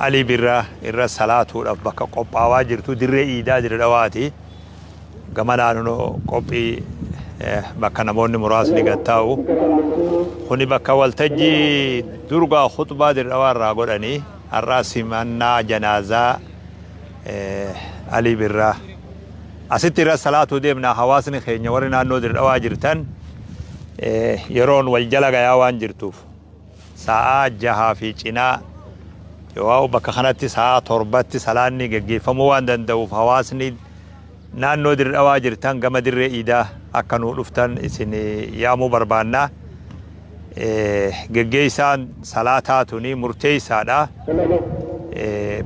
Alii Birraa irra salaatuudhaaf bakka qophaawaa jirtu dirree iidaa Dire Dhawaati. Gama laaluun qophii bakka namoonni muraasni gad taa'u. Kuni bakka waltajjii durgaa khutbaa Dire Dhawaa irraa godhani. Har'aa simannaa janaazaa Alii Birraa. Asitti irra salaatuu deemna hawaasni keenya warri naannoo Dire Dhawaa jirtan yeroon wal jala gayaa waan jirtuuf. Sa'aa jahaa fi cinaa yooaau bakka kanatti sa'aa torbatti salaanni geggeeffamuu waan danda'uuf hawaasni naannoo Dirre Dhawaa jirtan gama Dirree Iidaa akka nuu dhuftan isin yaamuu barbaanna. Geggeessaan salaataa tuni murteessaadha.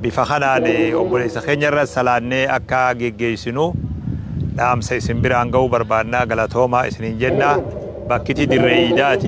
Bifa kanaan obboleessa keenya irra salaannee akka geggeessinu dhaamsa isin biraan ga'uu barbaanna galatoomaa isiniin jenna. Bakkiti Dirree Iidaati.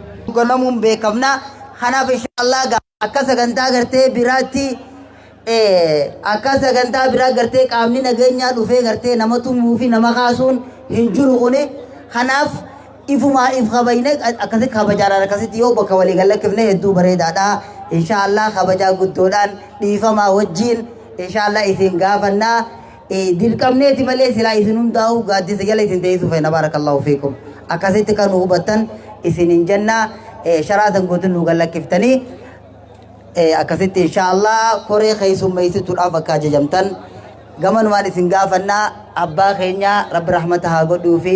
ganamuun beekamna. Kanaaf inshaallah gaa akka sagantaa gartee biraatti eh, akka sagantaa biraa gartee qaamni nageenyaa dhufee gartee nama tumuu fi nama kaasuun hin jiru kuni. Kanaaf ifumaa if kabajne akkasitti kabajaadhaan akkasitti yoo bakka walii gallakkifne hedduu bareedaadha. Inshaallah kabajaa guddoodhaan dhiifamaa wajjiin inshaallah isin gaafannaa. Dirqamneeti malee silaa isin hundaa'uu gaaddisa jala isin teessuu feena baarakallaahu fiikum. Akkasitti kan nu hubattan isinin jenna sharaa san guutuun nu gallakkiftanii akkasitti inshaallah koree keessummeessituudhaaf akka ajajamtan gamanumaan isin gaafannaa abbaa keenya rabbi rahmata haa godhuu fi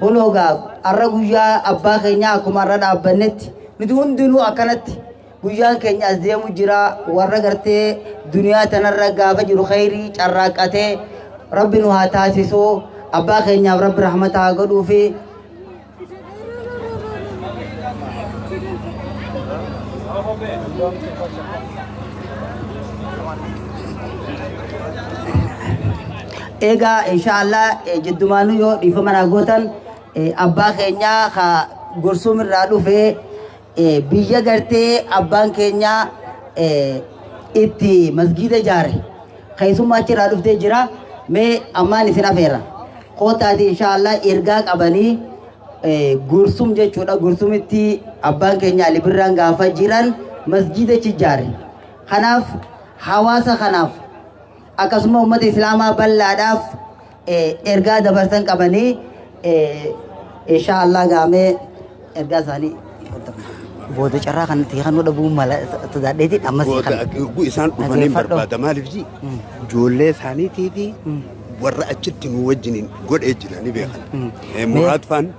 Kunoo gaa arra guyyaa abbaa keenyaa akkuma arra dhaabbannetti nuti hundinuu akkanatti guyyaan keenya as deemu jira warra gartee duniyaa tanarra gaafa jiru khayrii carraaqqatee rabbi nu haa taasisu abbaa keenyaaf rabbi rahmata haa godhuu fi Eegaa insha Allah eh, jiddumaanuu yoo dhiifama naa gootan eh, abbaa keenyaa ka Gursum irraa dhufe eh, biyya gartee abbaan keenyaa eh, itti masgiida ijaare keessummaa achirraa dhuftee jira mee ammaan isin afeera kootaati insha Allah ergaa qabanii eh, Gursum jechuudha Gursumitti abbaan keenya Ali Birraan gaafa jiran masgiida achi ijaare kanaaf hawaasa kanaaf akkasuma ummata islaamaa bal'aadhaaf ergaa dabarsan qabanii inshaa Allah gaamee ergaa isaanii booda carraa kan itti kennuu dhabuu mala sodaadheeti ammas Booda kan isaan dhufanii barbaada maaliif ji ijoollee isaaniitii fi warra achitti nu wajjiniin godhee jiranii beekan. Muraad faan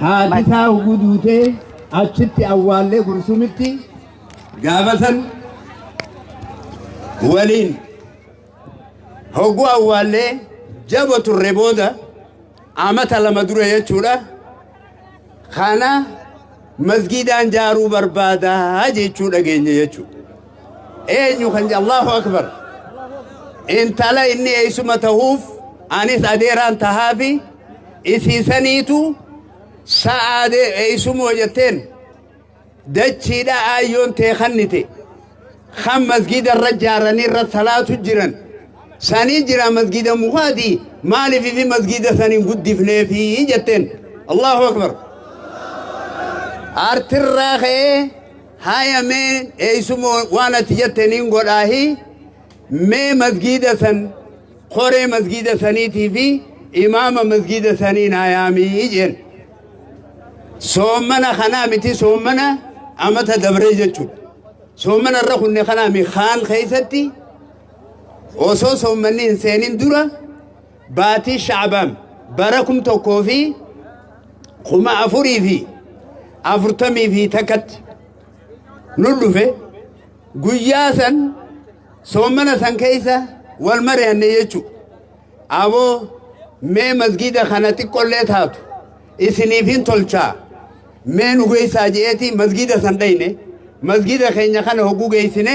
Haatisaa ugu duutee achitti awwaallee gursumitti gaafasan waliin hogguu awwaallee jabo turre booda amata lama dura jechuudha. Kana masgiidaan jaaruu barbaadaa jechuu dhageenya jechuudha. eenyu kan Allahu Akbar. Intala inni eessuma tahuuf anis adeeraan tahaafi isiisaniitu sa'aa eessumoo jetteen dachiidha aayyoon tee kannite kan masgiida irra jaaranii irra salaatu jiran sanii jira masgiida mukaati maaliif fi masgiida saniin guddifneefi jetteen Allahu Akbar. Artirraa ka'ee. Haaya mee eeysuma waan ati jette niin godhaahi mee masgiida san koree masgiida saniitii fi imaama masgiida sanii naa yaamii jeen soommana kanaa miti soommana amata dabree jechuudha soommana irra kunne kanaa mi kaan keessatti osoo soommanni hin seenin dura Baatii Sha'baan bara 1441tti nu dhufe guyyaa san soomana san keessa wal mari'anne jechuudha. Aboo mee masgiida kana xiqqollee taatu isiniif hin tolchaa mee nu geessaa je'eetii masgiida san dhayne masgiida keenya kana hogguu geessine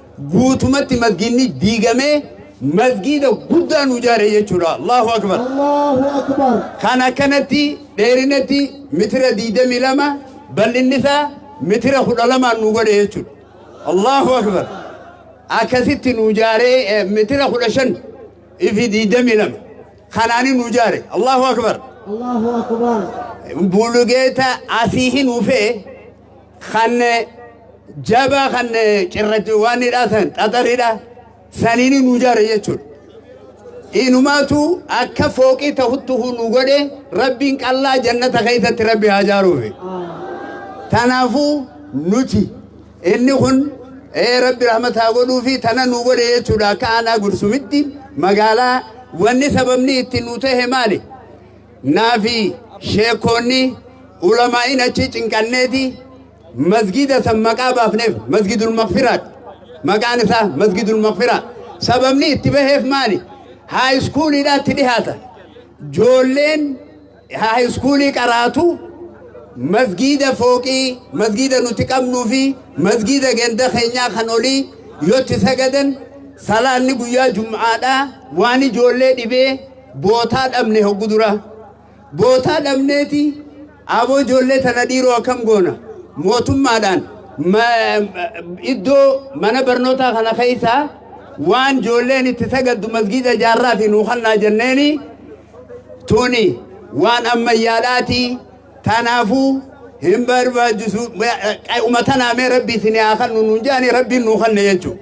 guutumatti masgiinni diigamee masgiida guddaa nu jaare jechuudha allahu akbar Allahu Akbar. kan akkanatti dheerinatti mitira 22 bal'inni isaa mitira 12 nu godhe jechuudha allahu akbar akkasitti nu jaaree eh, mitira 15 ifi 22 kanaani nu jaare allahu akbar Allahu Akbar. bulugeeta asii hin ufee kan jabaa kan cirrachiwwaanidha san xaxaridha saniin nu jaare jechuudha. Inumaatu akka fooqii ta'uttu nu godhe rabbiin qallaa jannata keessatti rabbi haa jaaruufi. Kanaafuu nuti inni kun ee rabbi rahmataa godhuu fi tana nu godhe jechuudha akka aanaa gursumitti magaalaa wanni sababni itti nu ta'e maali? Naafi sheekoonni ulamaa'iin achii cinqanneeti masgiida san maqaa baafneef masgidul maqfiraat maqaan isaa masgidul maqfiraa sababni itti baheef maali haayiskuuliidhaatti dhihaata joolleen haayiskuulii qaraatu masgiida fooqii masgiida nuti qabnuu fi masgiida ganda keenyaa kan olii yotti sagadan salaanni guyyaa jum'aadhaa waan ijoollee dhibee Bootaa dhabne hoggu duraa. Bootaa dhabneeti aboo ijoollee tana dhiiroo akkam goona mootummaadhaan iddoo mana barnootaa kana keessaa waan ijoolleen itti sagaddu masgiida ijaarraa fi nuukannaa jenneeni tuni waan ammayyaadhaati tanaafuu hin barbaachisu umatanaa mee rabbii isin haa kannu nuun jedhani rabbiin nuu kanne jechuudha.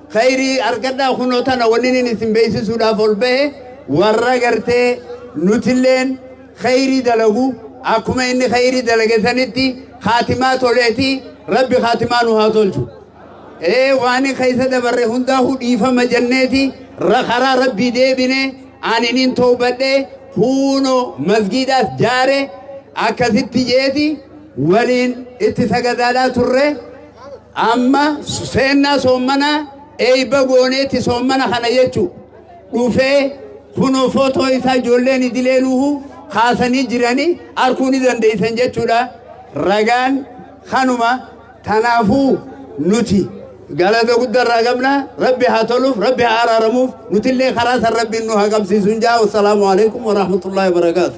Khayrii argadhaa kunoo tana waninin isin beeksisuudhaaf ol bahe warra gartee nutilleen khayrii dalagu akkuma inni khayrii dalage sanitti khaatimaa toleeti rabbi khaatimaa nu haa tolchu. Ee waan keessa dabarre hundaa'u dhiifama jenneeti ra- karaa rabbii deebine aninin toobadhe kuuno masgiidaas jaare akkasitti jeeti waliin itti sagadaadhaa turre. Amma seennaa soommanaa eeyba gooneetti soommana kana jechu dhufee kunoo footoo isaa ijoolleen idilee nuuhu kaasanii jiranii arkuu ni dandeeysan jechuudha. Ragaan kanuma tanaafuu nuti galata guddaa irraa qabna rabbi haa toluuf rabbi haa araaramuuf nutillee karaa san rabbiin nu haa qabsiisuun jaa wassalaamu alaikum warahmatullaahi wabarakaatu.